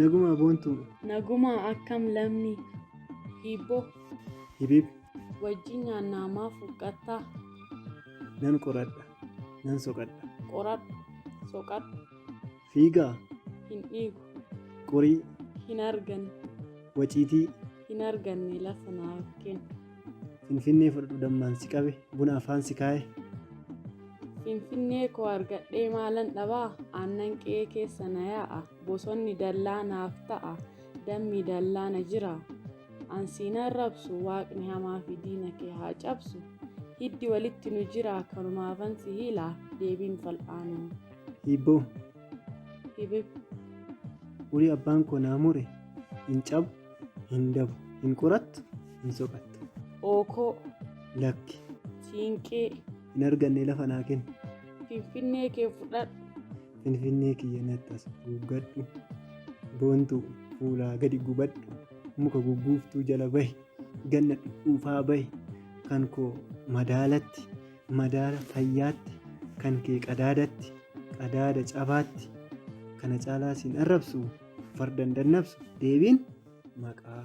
Nagumaa boontuu. Nagumaa akkam lammi. Hiibboo. Hibib. Wajjin nyaannaa maaf huqqattaa? Nan qoradha. Nan soqadha. Qoradhu. Soqadhu. Fiigaa. Hin dhiigu. Qorii. Hin arganne. Waciitii. Hin arganne lafa naaf kenni. Finfinnee fudhadhu dammaan si qabe buna afaan si kaaye. Finfinnee koo argadhee maalan dhabaa aannan qe'ee keessa na yaa'a bosonni dallaa naaf ta'a dammi dallaa na jira an siin arrabsu waaqni hamaa fi diina kee haa cabsu hiddi walitti nu jira kanumaafan si hiila deebiin fal'aanoo. Hiibboo. Hibib. Urii abbaan koo naa mure hin cabu. hin dabu hin qorattu hin soqattu ookoo lakki siinqee hin arganne lafa naa kenni finfinnee kee fudhadhu finfinnee kiyya natti as guuggadhu boontuu fuulaa gadi gubadhu muka gugguuftuu jala bahi ganna dhuufaa bahi kan koo madaalatti madaala fayyaatti, kan kee qadaadatti, qadaada cabaatti, kana caalaa siin arrabsu, farda hin dadnabsu, deebiin maqaa.